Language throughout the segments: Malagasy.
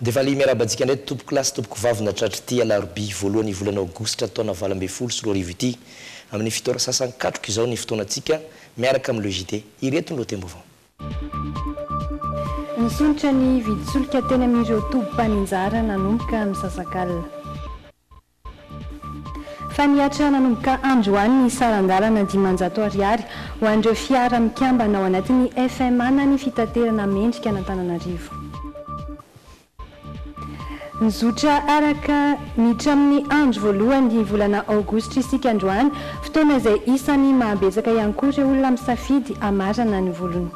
Dia vale miarahaba antsika indray tompoko lahy sy tompoko vavy nahatratra ity alarobia voalohan'ny volana aogositra taona valo ambin'ny folo sy roa arivo ity amin'ny fito ora sasany katroka izao ny fotoanantsika miaraka amin'ny le JT. Ireto ny lohatenim-baovao. Nisondrotra ny vidin-tsolika teny amin'ireo tobim-paninjara nanomboka misasak'alina. Fa nihatra nanomboka androany ny saran-dalana dimanjato ariary ho an'ireo fiara mikambana ao anatin'ny FMA na ny fitaterana mendrika an'Antananarivo. Nizotra araka ny tramin'ny andro voalohan'ny volana aogositra isika androany, fotoana izay isan'ny mahabetsaka ihany koa ireo olona misafidy hamarana ny volony.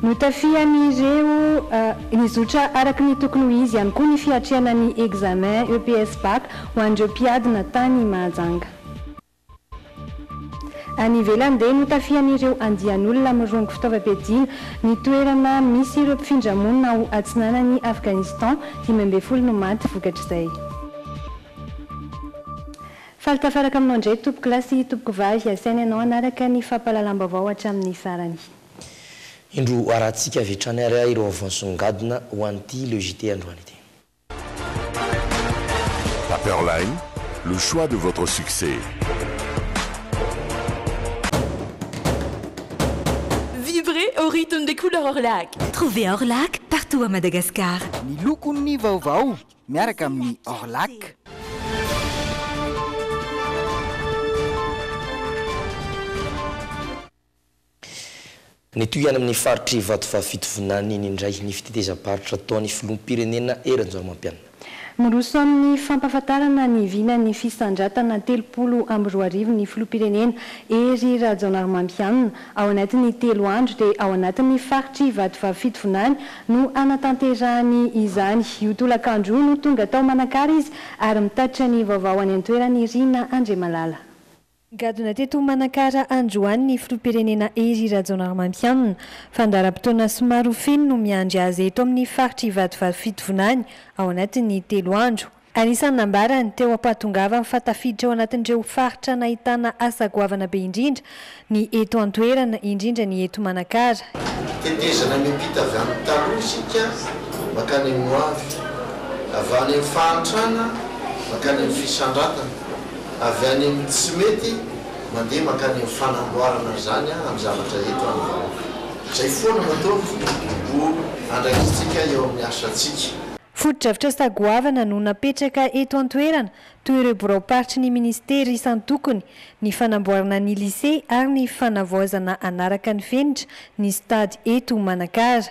Notafihan'ireo nizotra araka ny tokony ho izy ihany koa ny fiatrehana ny examen EPS Bac ho an'ireo mpiadina tany Mahajanga. Any ivelany dia notafihan'ireo andian'olona mirongo fitaovam-piadiana ny toerana misy ireo mpifindra monina ao atsinanan'i Afghanistan, dimy ambin'ny folo no maty vokatr'izay. Faly tafaraka aminao indray tompokolahy sy tompokovavy, asaina ianao hanaraka ny fampahalalam-baovao hatramin'ny farany. Indro harahantsika avy hatrany ary ireo vaovao nisongadina ho an'ity Le JT androany ity. Paperline, le choix de votre succès. Vivrez au rythme des couleurs Orlac! Trouvez Orlac partout à Madagascar! Ny lokon'ny vaovao. miaraka amin'ny Orlac. Nitohy any amin'ny faritr'i Vatovavy Fitovinany iny indray ny fitetezam-paritra ataon'ny filoham-pirenena Hery Rajaonarimampianina. Miroso amin'ny fampahafantarana ny vinan'ny fisandratana telopolo amby roa arivo ny filoham-pirenena Hery Rajaonarimampianina. Ao anatin'ny telo andro dia ao anatin'ny faritr'i Vatovavy Fitovinany No hanatanterahany izany. Io tolakandro io no tonga tao Manakara izy ary mitatitra ny vaovao any an-toerana i Rina Andriamalala. Nigadona teto Manakara androany ny filoham-pirenena Hery Rajaonarimampianina. Fandaharam-potoana somary ho feno no miandry azy eto amin'ny faritr'Ivatovavy Fitovinany ao anatin'ny telo andro. Anisan'ny nambarany, teo am-pahatongavany, fa tafiditra ao anatin'ireo faritra nahitana asa goavana be indrindra ny eto an-toerana, indrindra ny eto Manakara. Tetezana miampita avy any taloha isika mankany amin'ny ho avy, avy any amin'ny fahantrana mankany amin'ny fisandratana, avy any amin'ny tsy mety mandeha mankany amin'ny fanamboarana izany amin'ny zavatra eto an'ny vahoaka. Izay foana no ataony mbo andraisantsika eo amin'ny asantsika. Fotodrafitrasa sa goavana no napetraka eto an-toerana toy ireo biraom-paritry ny minisitera isan-tokony, ny fanamboarana ny lisea ary ny fanavaozana hanaraka ny fenitra ny stade eto Manakara.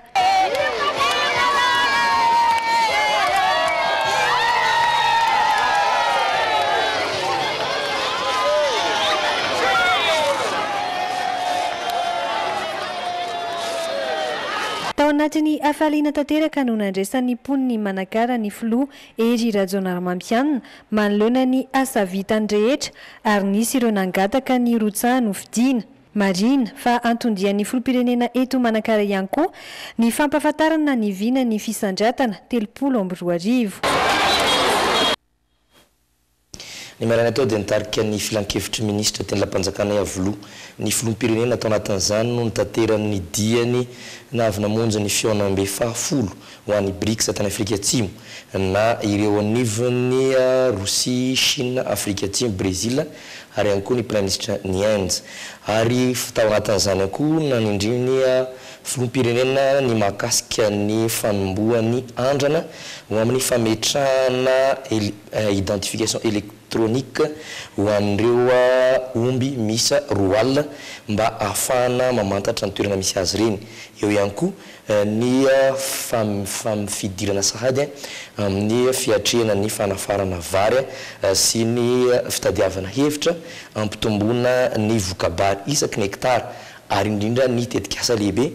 Tao anatin'ny hafaliana tanteraka no nandresan'ny mponin'i Manakara ny filoha Hery Rajaonarimampianina manoloana ny asa vitany rehetra ary nisy ireo nangataka ny rotsaha nofidina. Marihina fa anton-dian'ny filoham-pirenena eto Manakara ihany koa ny fampahafantarana ny vinan'ny fisandratana telopolo amby roa arivo. Ny maraina teo dia nitarika ny filankevitry ny minisitra teny Lapanjakana Iavoloha ny filoham-pirenena tao anatin'izany no nitaterany ny diany na avy namonjy ny fihaonambe faha folo ho an'ny Brics tany Afrika Atsimo na ireo anivon'ny Rosia, Shina, Afrika Atsimo, Brezila ary ihany koa ny praiminisitra Niainz ary tao anatin'izany ihany koa nanindriany Filoham-pirenena ny mahakasika ny fanombohan'ny andrana ho amin'ny fametrahana identification électronique ho an'ireo omby miisa roa alina mba ahafahana mamantatra ny toerana misy azy ireny. Eo ihany koa ny fidirana sahady amin'ny fiatrehana ny fanafarana vary sy ny fitadiavana hevitra hampitomboana ny voka-bary isaky ny hekitara ary indrindra ny tetikasa lehibe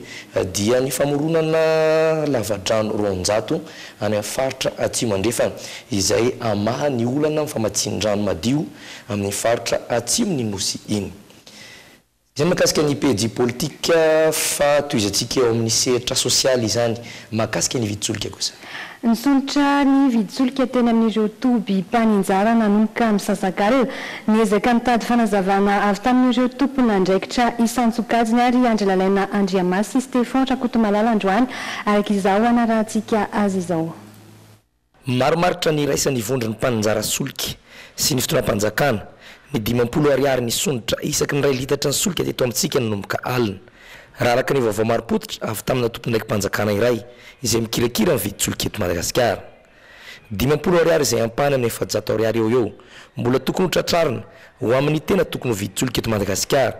dia ny famoronana lavadrano roanjato any amin'ny faritra Atsimo Andrefana, izay hamaha ny olana amin'ny famatsian-drano madio amin'iny faritra atsimon'ny Nosy iny. Izay mahakasika ny pejy politika fa tohizantsika eo amin'ny sehatra sosialy izany mahakasika ny vidin-tsolika kosa. Nisondrotra ny vidin-tsolika teny amin'ireo toby mpaninjara nanomboka misasak'alina. Niezaka nitady fanazavana avy tamin'ireo tompon'andraikitra isan-tsokajiny àry Andry Lalaina Andriamasy sy Stefan Rakotomalala androany, araka izao hanarahantsika azy izao. Marimaritra ny iraisan'ny vondron'ny mpaninjara solika sy ny fitondram-panjakana ny dimampolo Ariary nisondrotra isaky ny iray litatry ny solika teto amintsika nanomboka alina. Raha araka ny vaovao marim-pototra avy tamina tompondaiki-panjakana iray izay mikirakira ny vidin-tsolika eto Madagasikara, dimampolo ariary izay ampahany amin'ny efajato ariary eo ho eo, mbola tokony ho tratrarina ho amin'ny tena tokony ho vidin-tsolika eto Madagasikara,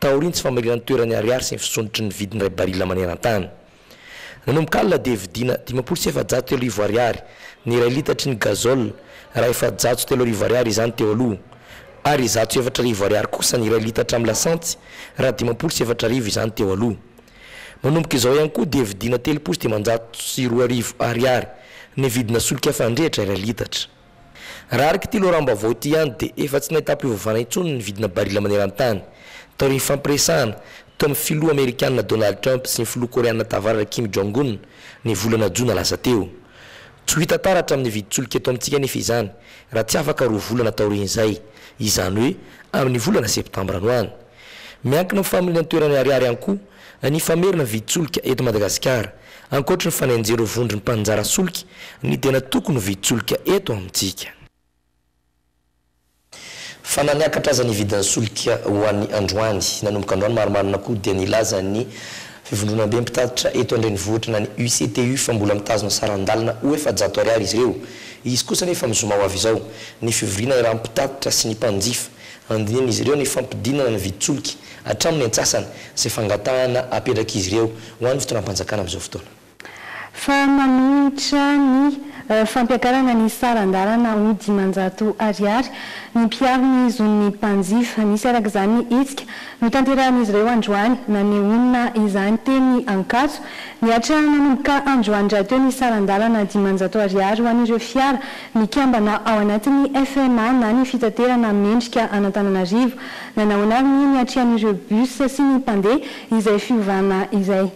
taorian'ny tsy famaliran-toeran'ny ariary sy ny fisondrotry ny vidin'iray barila maneran-tany. Nanomboka alina dia vidiana dimampolo sy efajato telo arivo ariary ny iray litatry ny gazole raha efajato sy telo arivo ariary izany teo aloha ary zato sy efatra arivo ariary kosa ny iray litatra amin'ny lasantsy raha dimampolo sy efatra arivo izany teo aloha. Manomboka izao ihany koa dia vidiana telopolo sy dimanjato sy roa arivo ariary ny vidina solika fandrehitra iray litatra. Raha araka ity loharanom-baovao ity ihany dia efa tsy nahitam-pivavahana intsony ny vidina barila maneran-tany, taorian'ny fampiresahana teo amin'ny filoha amerikana Donald Trump sy ny filoha koreana tavaratra Kim Jong-un ny volana jona lasa teo. Tsy ho hita taratra amin'ny vidin-tsolika eto amintsika anefa izany raha tsy afaka roa volana taorian'izay, izany hoe amin'ny volana septambra any ho any. Miankina amin'ny familiana toerana Ariary ihany koa Ny famerina vidin-tsolika eto Madagasikara, ankoatry ny fanenjehana ho vondron'ny mpaninjara solika, ny tena tokony ho vidin-tsolika eto amintsika. Fa na niakatra aza ny vidin'ny solika ho an'ny androany, nanomboka androany marimarina koa dia nilaza ny Fivondronambe mpitatitra eto an-drenivohitra na ny UCTU fa mbola mitazona saran-dalana ho efajato ariary izy ireo. Hisy kosa anefa ny zoma ho avy izao, ny fivoriana iarahan'ny mpitatitra sy ny mpanjifa Handinihan'izy ireo ny fampidinana ny vidin-tsolika hatramin'ny antsasany izay fangatahana apetrak'izy ireo ho an'ny fitondram-panjakana amin'izao fotoana. Fa manohitra ny fampiakarana ny saran-dalana ho dimanjato ariary ny mpiaro ny zon'ny mpanjifa. Nisy araka izany ny hetsika notanterahan'izy ireo androany. Nanehoana izany teny Ankatso. Nihatra nanomboka androany rahateo ny saran-dalana dimanjato ariary ho an'ireo fiara Nikambana ao anatin'ny FMA na ny fitaterana mendrika an'Antananarivo. Nanahoana avy ny niatrian'ireo bus sy ny mpandeha izay fiovana izay?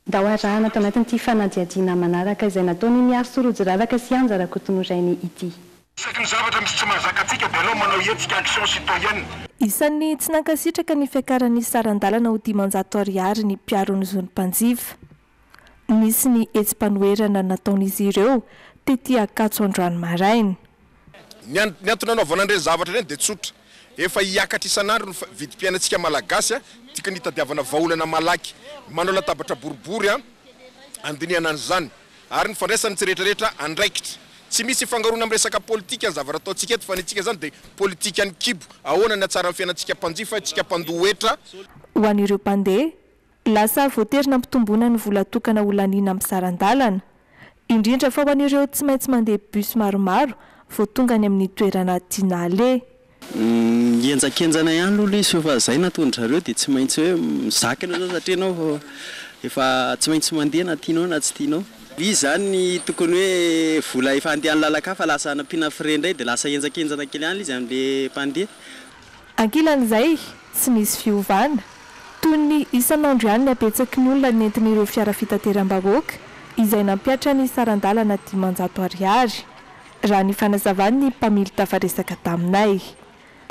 Ndao arahana ato anatin'ity fanadihadiana manaraka izay nataon'i Mihary Sorojiraraka sy Anja Rakotonorainy ity. Saika ny zavatra misy tsy mahazaka antsika dia aleo manao hetsika action citoyenne. Isan'ny tsy nankasitraka ny fiakaran'ny saran-dalana ho dimanjato ariary ny mpiaro ny zon'ny mpanjifa. Nisy ny hetsi-panoherana nataon'izy ireo tety Ankatso androany maraina. Ny ny antony anaovana an'ireny zavatra ireny dia tsotra, efa hiakatra isan'andro ny vidim-piainantsika Malagasy, dika ny hitadiavana vahaolana malaky manao latabatra boribory handinihana an'izany, ary ny fandraisan'ny tsy rehetrarehetra andraikitra. Tsy misy ifangaroana amin'ny resaka politika ny zavatra ataontsika eto, fa ny antsika izany dia politikan'ny kibo, ahoana ny hatsaran'ny fiainantsika mpanjifa, isika mpandoa hetra. Ho an'ireo mpandeha, Lasa voatery nampitomboina ny vola tokana ho laniana amin'ny saran-dalana, indrindra fa ho an'ireo tsy maintsy mandeha bus maromaro vao tonga any amin'ny toerana tiana aleha. Mihenjankenjana ihany aloha ilay izy fa efa izay nataon-dry zareo dia tsy maintsy hoe mizakina izany satria ianao efa tsy maintsy mandeha na tianao na tsy tianao. Izy izany ny tokony hoe vola efa handeha any lalan-kafa lasa nampiana frais indray dia lasa henjankenjana kely ihany ilay izy amin'ilay mpandeha. Ankilan'izay, tsy nisy fiovana. Toy ny isan'andro ihany ny habetsaky ny olona nentin'ireo fiara fitateram-bahoaka izay nampihatra ny saran-dalana dimanjato ariary, raha ny fanazavan'ny mpamily tafaresaka taminay.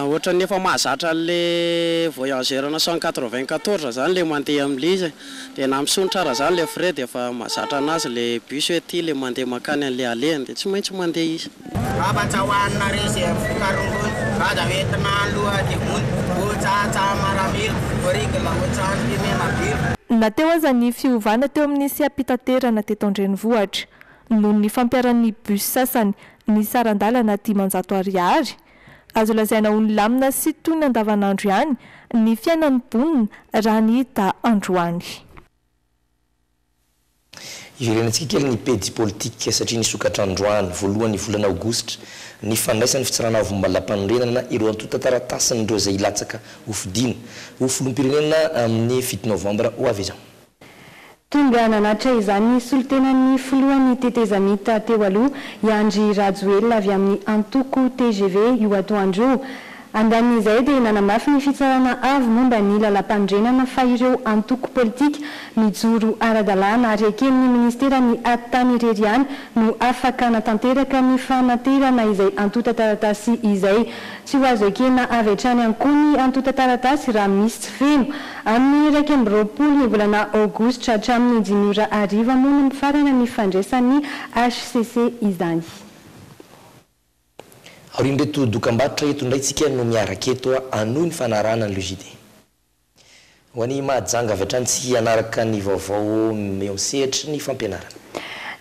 Ohatran'ny efa mahazatra an'ilay Voyager naissant quatre-vingt-quatorze izany ilay mandeha amin'ilay izy e. Dia na misonitra ara zany le frais dia efa mazatra anazy le bus hoe ty le mandeha mankany anle alehany dia tsy maintsy mandeha izy. Ngaba tsy hohanina re ze voka rongony Vaza hoentina aloha de mony O tsatsa maramila O rigla O tsano mpimema bila. Na teo aza ny fiovana teo amin'ny seha-pitaterana teto an-drenivohitra, noho ny fampiharan'ny bus sasany ny saran-dalana dimanjato ariary, Azo lazaina ho nilamina sy toy ny andavanandro ihany ny fiainan'ny mponina raha ny hita androany. Iverenantsika kely ny pejy politika satria nisokatra androany, voalohan'ny volana aogositra, ny fandraisan'ny Fitsarana Avo Malapanorenana ireo antontan-taratasin'ireo izay hilatsaka hofidiana ho Filoham-pirenena amin'ny fito novambra ho avy izao. Tonga nanatitra izany ny solontenan'ny filohan'ny tetezamita teo aloha, i Andry Rajoelina avy amin'ny antoko tgv io atoandro io. Andanin'izay dia nanamafy ny Fitsarana Avo momba ny Lalàmpanorenana fa ireo antoko politika mijoro ara-dalàna ary eken'ny ministeran'ny At tany irery ihany no afaka hanatanteraka ny fanaterana izay antontan-taratasy izay. Tsy ho azo ekena avy hatrany an-ko ny antontan-taratasy raha misy tsy feno Amin'ny iraika amby roapolo ny volana aogositra hatramin'ny dimy ora hariva moa no mifarana ny fandraisan'ny hcc izany. Aorian'ireto dokambarotra eto indray tsika no miaraka eto hanohy ny fanarahana ny LGD. Ho an'ny maha janga avy hatrany tsy hanaraka ny vaovao eo amin'ny sehatry ny fampianarana.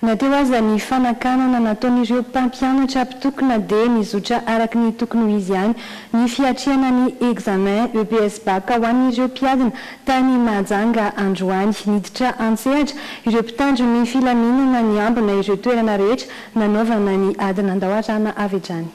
Na teo aza ny fanakanana nataon'ireo mpampianatra mpitokona dia nizotra araka ny tokony ho izy ihany ny fiatrehana ny examen EPS Bac ho an'ireo mpiadina tany Mahajanga androany. Niditra an-tsehatra ireo mpitandro ny filaminana niambina ireo toerana rehetra nanaovana ny ady nandao arana avy hatrany.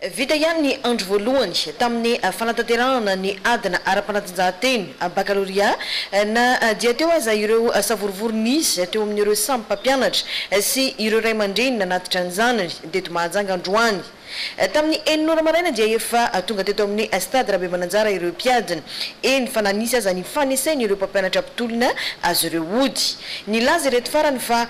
Vita ihany ny andro voalohany tamin'ny fanatanterahana ny adina ara-panatanjahantena, bakalorea, na dia teo aza ireo savorovoro nisy teo amin'ireo samy mpampianatra sy ireo ray aman-dreny nanatitra ny zanany teto Mahajanga androany. Tamin'ny enina ora maraina dia efa tonga teto amin'ny Stade Rabemananjara ireo mpiadina, eny fa na nisy aza ny fanesen'ireo mpampianatra mpitolona azy ireo hody. Nilaza ireto farany fa.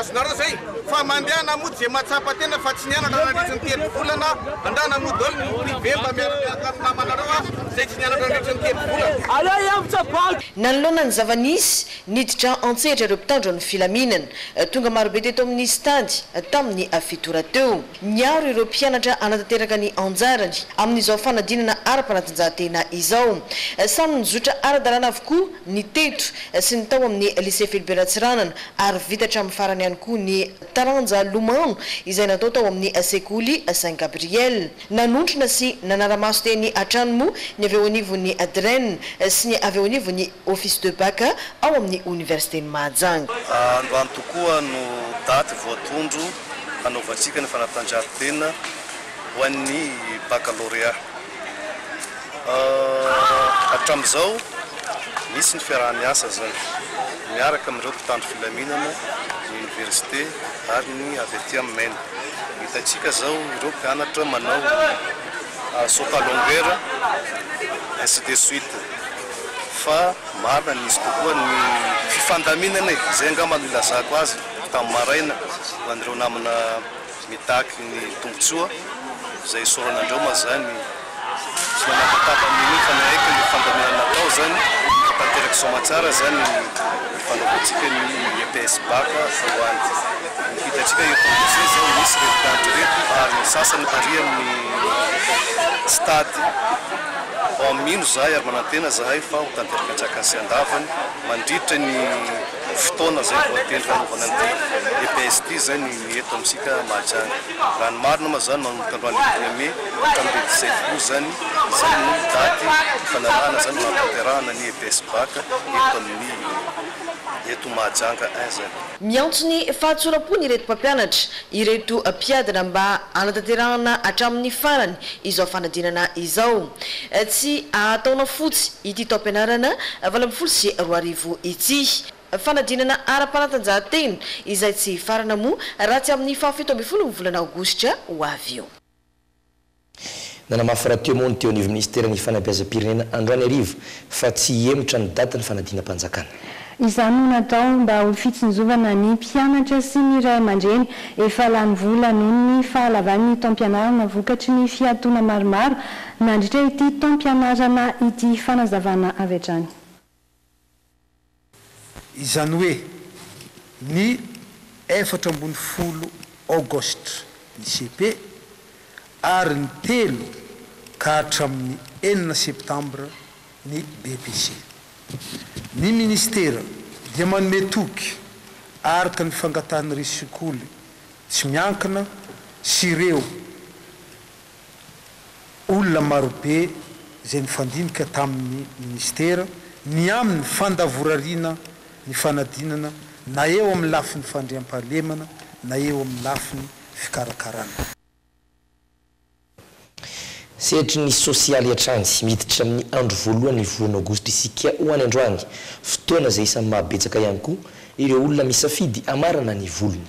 azonareo zay fa mandehana mody ze mahatsapa tena fa tsy nianatra nandritry ny telo volana andrana mody daholo ny privé mba miaramiaraka amin'ny namanareo a zay tsy nianatra nandritry ny telo volana. Nanoloana ny zava-nisy, niditra an-tsehatra ireo mpitandro ny filaminana. Tonga marobe teto amin'ny stady, tamin'ny fito ora teo. Niaro ireo mpianatra hanatanteraka ny anjarany amin'izao fanadinana ara-panatanjahantena izao. Samy nizotra ara-dalàna avokoa ny teto sy ny tao amin'ny Lycée Philibert Ratsiranana ary vita hatramin'ny farany ihany koa ny taranja lomano izay natao tao amin'ny sekoly Saint Gabriel. Nanontrona sy nanara-maso teny hatrany moa ny avy eo anivon'ny Dren sy ny avy eo anivon'ny Office de Bac ao amin'ny Oniversiten'i Mahajanga. Androany tokoa no daty voatondro hanaovantsika ny fanatanjahantena ho an'ny Bakalôrea. Hatramin'izao, misy ny fiaraha-miasa izany miaraka amin'ireo mpitandro filaminana, ny Oniversite ary ny avy aty amin'ny MEN. Hitantsika izao ireo mpianatra manao saut à longueur, ainsi de suite. fa marina nisy kokoa ny fifandaminana e! izay angamba no ilazako azy tamin'ny maraina ho an'ireo namana mitaky ny tombotsoa izay isaorana andreo ma zany tsy manakataba amin'io fa ny aiko ny fifandaminana natao zany fa tanteraka soa aman-tsara zany ny fanaovantsika ny EPS bac voalohany hitantsika eto Anosibe zao misy ireto tanty ireto ary ny sasany varian'ny stade Vao mino izahay ary manantena izahay fa ho tanteraka an-tsakany sy an-davany mandritra ny fotoana izay voatendry hanaovana an'ity EPS ity izay ny ny eto amintsika Mahajanga. Raha ny marina moa izany manomboka androany roapolo mey ka hamin'ny dimy sy efapolo izany izay no daty hifanarahana izany ho hahatanterahana ny EPS Bac eto amin'ny eto Mahajanga un izany. Miantso ny fahatsoram-pony ireto mpampianatra ireto mpiadina mba hanatanterahana hatramin'ny farany izao fanadinana izao. Tsy hahataona fotsy ity taom-pianarana valo ambin'ny folo sy roa arivo ity. Fanadinana ara-panatanjahantena izay tsy hifarana moa raha tsy amin'ny fahafito ambin'ny folo ny volana aogositra ho avy io. Nanamafy rahateo moa ny teo anivon'ny minisiteran'ny fanabeazam-pirenena androany hariva fa tsy hihemotra ny datin'ny fanadinam-panjakana. Izany no natao mba ho fitsinjovana ny mpianatra sy ny ray aman-dreny efa lany vola noho ny fahalavan'ny taom-pianarana vokatry ny fiatoana maromaro nandritra ity taom-pianarana ity, fanazavana avy hatrany. Izany hoe ny efatra ambin'ny folo Aogositra ny cepe ary ny telo ka hatramin'ny enina Septambra ny BEPC. Ny Ministera dia manome toky araka ny fangatahan'ireo sekoly tsy miankina sy ireo. Olona marobe izay nifandinika tamin'ny Minisitera ny amin'ny fandavorariana ny fanadinana na eo amin'ny lafiny fandriampahalemana na eo amin'ny lafiny fikarakarana. Sehatry ny sosialy hatrany, miditra amin'ny andro voalohany ny volana Aogositra isika ho any androany, fotoana izay isan'ny maha betsaka ihany koa Ireo olona misafidy hamarana ny volony.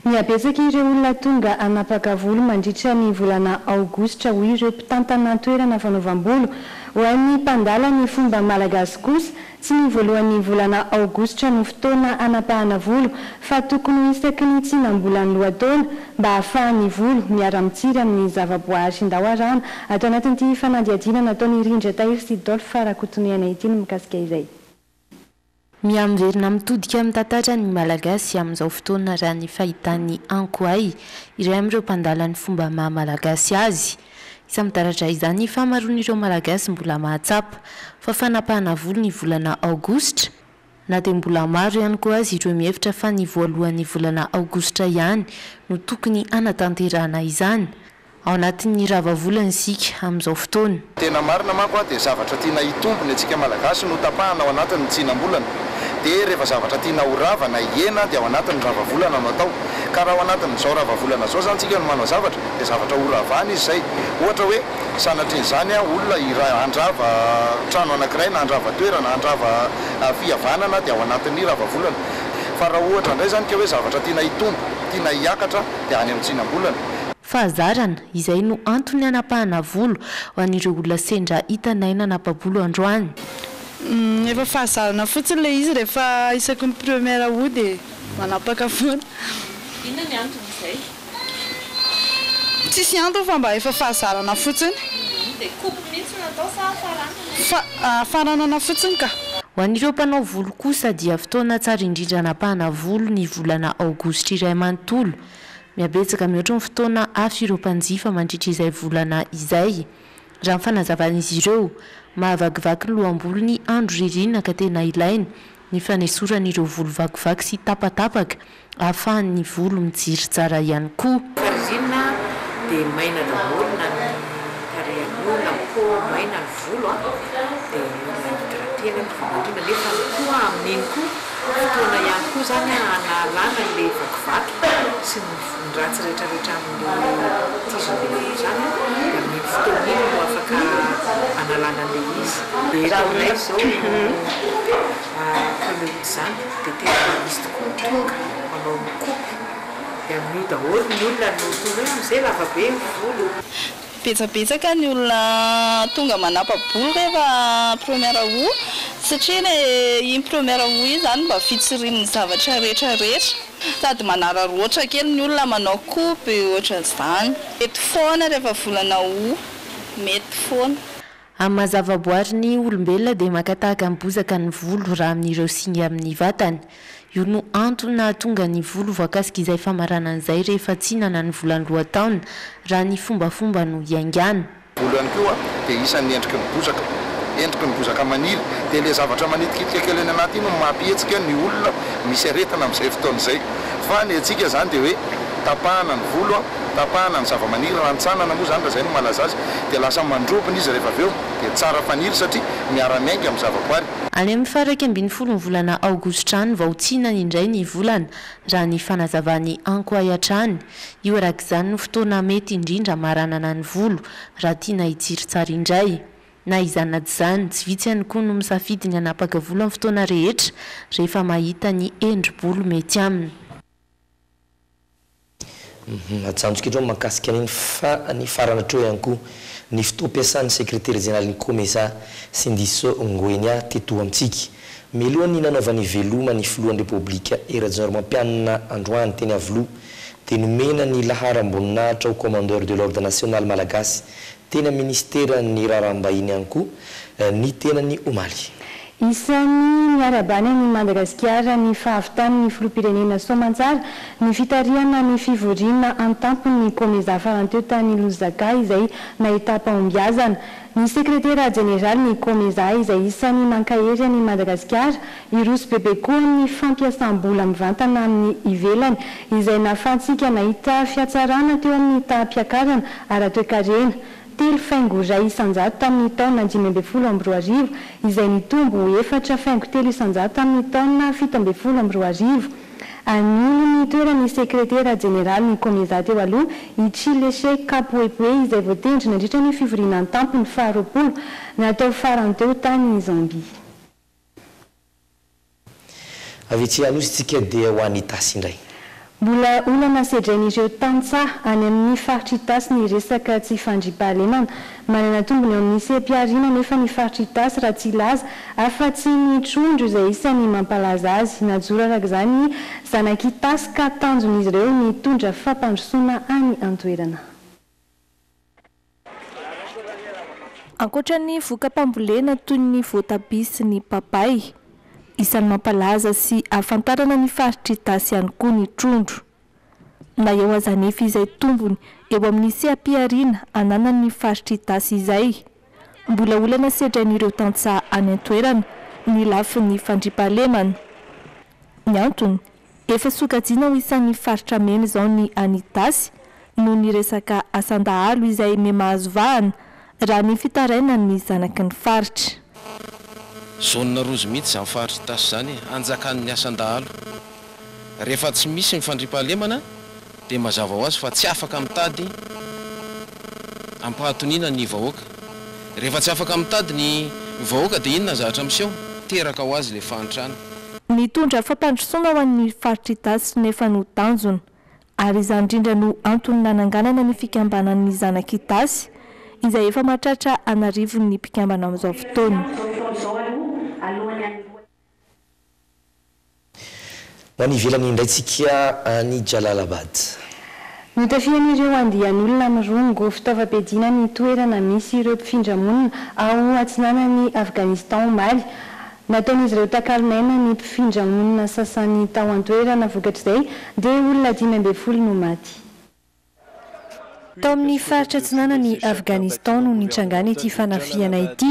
Mihabetsaka ireo olona tonga hanapaka volo mandritra ny volana aogositra, hoy ireo mpitantana an-toerana fanaovam-bolo. Ho an'ny mpandala ny fomba malagasy kosa, tsy ny voalohan'ny volana aogositra no fotoana hanapahana volo fa tokony ho isaky ny tsinam-bolan'ny lohataona mba hahafahan'ny volo miara-mitsiry amin'ny zavaboahary hindao arahana ato anatin'ity fanadihadiana nataon'i Rindra Tahiry sy Dolph Rakotonihana ity ny mikasika izay Miha-miverina mitodika amin'ny tantara ny Malagasy amin'izao fotoana raha ny fahitan'i Ankoay, iray amin'ireo mpandala ny fomba maha-malagasy azy. Isa-midaradra izany ny fahamaroan'ireo Malagasy mbola mahatsapa fa fanapahana volo ny volana Aogositra, na dia mbola maro ihany koa aza ireo mihevitra fa ny voalohan'ny volana Aogositra ihany no tokony hanatanterahana izany. Ao anatin'ny rava volana isika amin'izao fotoana. Tena marina manko dia zavatra tiana hitombo ny antsika Malagasy no tapahana ao anatin ny tsinam-bolana. Dia rehefa zavatra tiana ho rava na hihena dia ao anatin ny rava volana no atao. Ka raha ao anatin izao rava volana izao izany tsika no manao zavatra dia zavatra ho ravana izy izay. Ohatra hoe sanatrin izany an olona hira handrava trano anakiray na handrava toerana, handrava fihavanana dia ao anatin ny rava volana. Fa raha ohatra indray izany ka hoe zavatra tiana hitombo, tiana hiakatra dia any amin'ny tsinam-bolana. Fahazarana, izay no antony hanapahana volo ho an'ireo olona sendra hitanay nanapa-bolo androany. Humm efa fahazarana fotsiny ilay izy rehefa isaky ny première hody e! Manapaka foana. Inona ny antony izay? Tsisy antony fa mba efa fahazarana fotsiny. Humm dia coupe mihitsy no atao sa faranana e? Fa ah faranana fotsiny ka. Ho an'ireo mpanao volo kosa dia fotoana tsara indrindra hanapahana volo ny volana aogositra iray manontolo. Mihabetsaka mihoatra ny fotoana afy ireo mpanjifa mandritra izay volana izay. Raha ny fanazavan'izy ireo, mahavakivaky ny lohamboly ny andro ririnina ka tena ilaina ny fanesorana ireo volo vakivaky sy tapatapaka ahafahan'ny volo mijery tsara ihany koa. Rehefa ririnina dia maina daholo na ny tarehin'olona, ny peau maina, ny volo dia mila hydratena ny volo mandrina nefa koa amin'iny koa. Fotoana ihany koa izany hanalana ilay vakivaky sy ny voniratsy rehetrarehetra amin'ilay tizony lehibe izany dia amin'iny fotoana iny no afaka hanalana an'ilay izy. Raha aminay izao mpanao izany dia tena misy tokoa ny tonga manao mikomy dia amin'io daholo ny olona no tonga hoe amin'izay lavabe ny volo. Betsabetsaka ny olona tonga manapa-bola rehefa première aout satria ilay iny première aout iny izany mba fitsirian'ny zavatra rehetra rehetra. Sady manararoatra kely ny olona manao coupe ohatran'izany. Mety foana rehefa volana aout, mety foana. Amin'ny maha zavaboary ny olombelona dia maka tahaka ny bozaka ny volo raha amin'ireo singa amin'ny vatany. Io no antony nahatonga ny volo voakasika izay famaranana izay rehefa tsinana ny volany lohataona raha ny fombafomba no iaingana. Volo ihany koa dia isan'ny endriky ny bozaka. Endriky ny bozaka manily. Dia ilay zavatra manitikitika kely any anaty iny no mampihetsika ny olona misy aretina amin'izay fotoana izay. Fa ny antsika izany dia hoe tapahana ny volo. Tapahana ny zavamaniry, rantsanana moa izany raha izay no malaza azy, dia lasa mandrobona izy rehefa avy eo, dia tsara faniry satria miara-miainga amin'ny zavaboary. Any amin'ny faha iraika ambin'ny folon'ny volana aogositra any vao tsinana indray ny volana, raha ny fanazavan'i Ankoay hatrany. Io araka izany no fotoana mety indrindra hamaranana ny volo, raha tiana hitsiry tsara indray. Na izany na tsy izany, tsy vitsy ihany koa no misafidy ny hanapaka volo amin'ny fotoana rehetra, rehefa mahita ny endri-bolo mety aminy. Majanjika eto mahakasika ny fa ny farany hatreo ihany koa ny fotoam-piasan'ny Sekretera Jeneralin'ny Comesa, Sindicso Nguenia, teto amintsika. Mialoha ny nanaovany veloma ny Filohan'ny Repoblika Hery Rajaonarimampianina androany teny Iavoloha dia nomena ny laharam-boninahitra ho Commandeur de l'Ordre National Malagasy teny amin'ny minisiteran'ny Raharaham-bahiny ihany koa ny tenany omaly. Isan'ny niarahabany an'i Madagasikara ny fahavitan'ny filoham-pirenena soamantsara ny fitarihana ny fivoriana an-tampon'ny Comesa farany teo tany Lusaka izay nahitam-pahombiazana. Ny sekretera jeneralin'ny Comesa izay isan'ny mankahery an'i Madagasikara Hiroso bebe koa ny fampiasam-bola mivantana amin'ny ivelany, izay nahafahantsika nahita fihatsarana teo amin'ny taham-piakarana ara-toekarena, telo faingo iray isan-jato tamin'ny taona dimy ambin'ny folo amby roa arivo, izay nitombo ho efatra faingo telo isan-jato tamin'ny taona fito ambin'ny folo amby roa arivo. Ninono ny toeran'ny sekretera jeneralin'ny Comeza teo aloha, i Chileshe Kapuepue, izay voatendry nandritra ny fivoriana an-tampony faharoapolo natao farany teo tany Zambia. Avy etsy Anosy isika dia ho any Itasy indray. Mbola olana sedrain'ireo tantsaha any amin'ny faritr'Itasy ny resaka tsy fandriampahalemana. Manana tombony eo amin'ny seha-pihariana anefa ny faritr'Itasy raha tsy hilaza afa-tsy ny trondro izay isan'ny mampalaza azy. Najoro araka izany ny zanak'Itasy ka tanjon'izy ireo ny hitondra fampandrosoana any an-toerana. Ankoatra ny voka-pambolena toy ny voatabia sy ny papay, isan'ny mampalaza sy ahafantarana ny faritr'i Itasy ihany koa ny trondro. Na eo aza anefa izay tombony eo amin'ny seha-pihariana ananan'ny faritr'i Itasy izay, Mbola olana sedrain'ireo tantsaha any an-toerana ny lafiny fandriampahalemana. Ny antony, efa sokajiana ho isan'ny faritra mena izao ny any Itasy noho ny resaka asan-dahalo izay mihamahazo vahana, raha ny fitarainan'ny zanaky ny faritra. Zone rouge mihitsy izany faritr'Itasy izany hanjakan'ny asan-dahalo. rehefa tsy misy ny fandriampahalemana dia mazava ho azy fa tsy afaka mitady ampahatoniana ny vahoaka. Rehefa tsy afaka mitady ny vahoaka dia inona ny zavatra miseho? Teraka ho azy ilay fahantrana. Nitondra fampandrosoana ho an'ny faritr'Itasy nefa no tanjona. Ary izany indrindra no antony nananganana ny fikambanan'ny zanak'Itasy, izay efa mahatratra an'arivony ny mpikambana amin'izao fotoana. Ho any ivelany indray tsika any Jalalabad. Notafihan'ireo andian'olona mirongo fitaovam-piadiana ny toerana misy ireo mpifindra monina ao atsinanan'i Afghanistan omaly. Nataon'izy ireo takalonaina ny mpifindra monina sasany tao an-toerana, vokatr'izay dia olona dimy ambin'ny folo no maty. Tao amin'ny faritra atsinanan'i Afghanistan no nitrangan'ity fanafihana ity.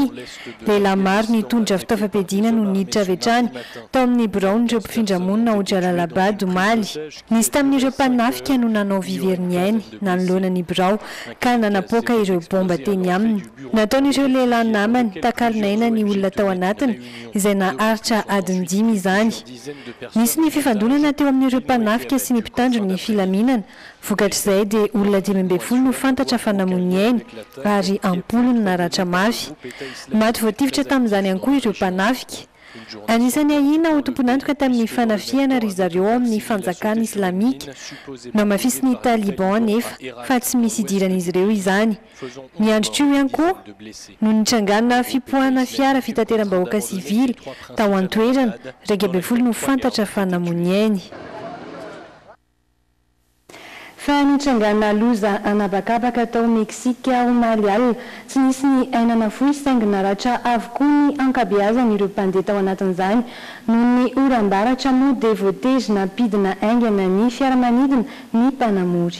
Lehilahy maro nitondra fitaovam-piadiana no niditra avy hatrany tao amin'ny biraon'ireo mpifindra monina ao Jalalabad, omaly. Nisy tamin'ireo mpanafika no nanao vy very ny ainy nanoloana ny birao ka nanapoaka ireo baomba teny aminy. Nataon'ireo lehilahy namany takalon'aina ny olona tao anatiny, izay naharitra adiny dimy izany. Nisy ny fifandonana teo amin'ireo mpanafika sy ny mpitandro ny filaminana Vokatr'izay dia olona dimy ambin'ny folo no fantatra fa namoy ny ainy ary am-polo no naratra mafy. Maty voatifitra tamin'izany ihany koa ireo mpanafika. Anisan'ny ahiana ho tompon'antoka tamin'ny fanafihana ry zareo ao amin'ny fanjakana islamika. Namafisin'ny Taliban anefa fa tsy misy idiran'izy ireo izany. Ny androtr'io ihany koa no nitrangana fipoahana fiara fitateram-bahoaka sivily tao an-toerana, iraika ambin'ny folo no fantatra fa namoy ny ainy. Fa nitrangàna loza an'habakabaka tao Meksika omaly alina. Tsy nisy ny aina nafoy saingy naratra avokoa ny ankabeazan'ireo mpandeha tao anatin'izany. Noho ny oram-baratra moa dia voatery nampidina haingana ny fiaramanidina ny mpanamory.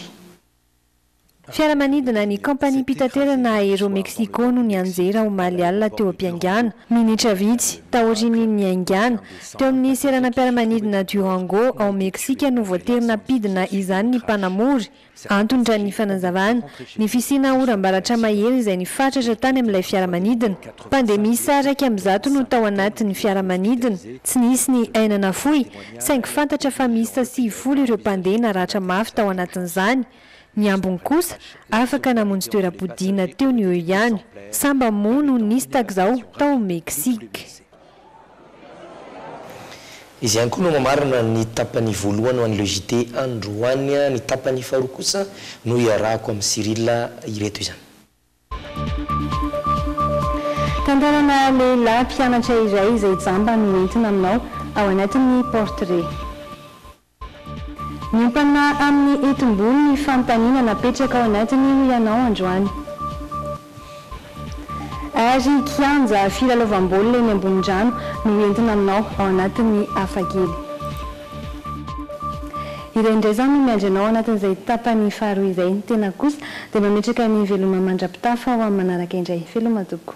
Fiaramanidina ny kaompaniam-pitaterana Aero-Mexico no nianjera omaly alina teo am-piaingàna. Minitra vitsy taorian'ny niaingàna, teo amin'ny seranam-piaramanidina Durango ao Meksika no voatery nampidina izany ny mpanamory. Antony, raha ny fanazavàna, ny fisiana oram-baratra mahery izay nifatratra tany amin'ilay fiaramanidina. Mpandemisa iraika amby zato no tao anatin'ny fiaramanidina. Tsy nisy ny aina nafoy saingy fantatra fa miisa sivifolo ireo mpandeha naratra mafy tao anatin'izany, ny ambiny kosa afaka namonjy toeram-podiana teo ny eo ihany, sa mba moa no nisy tak'izao tao Mexique? Izy ihany koa no mamarana ny tapany voalohany ho an'i Le JT androany, ny tapany faharoa kosa no iarahako amin'i Cyrille ireto izany. Tantarana lehilahy mpianatra iray izay jamba no entina aminao ao anatin'ny portrait. Miompana amin'ny hetim-bolo ny fanontaniana napetraka ao anatiny ho ianao androany. Ary kianja filalaovam-baolina eny ambony rano no entina aminao ao anatin'ny hafa kely. Ireny indray izao no miandry anao anatin'izay tapany faharoa izay. Ny tenako kosa dia mametraka ny veloma mandra-pitafa ho amin'ny manaraka indray. Veloma tompoko.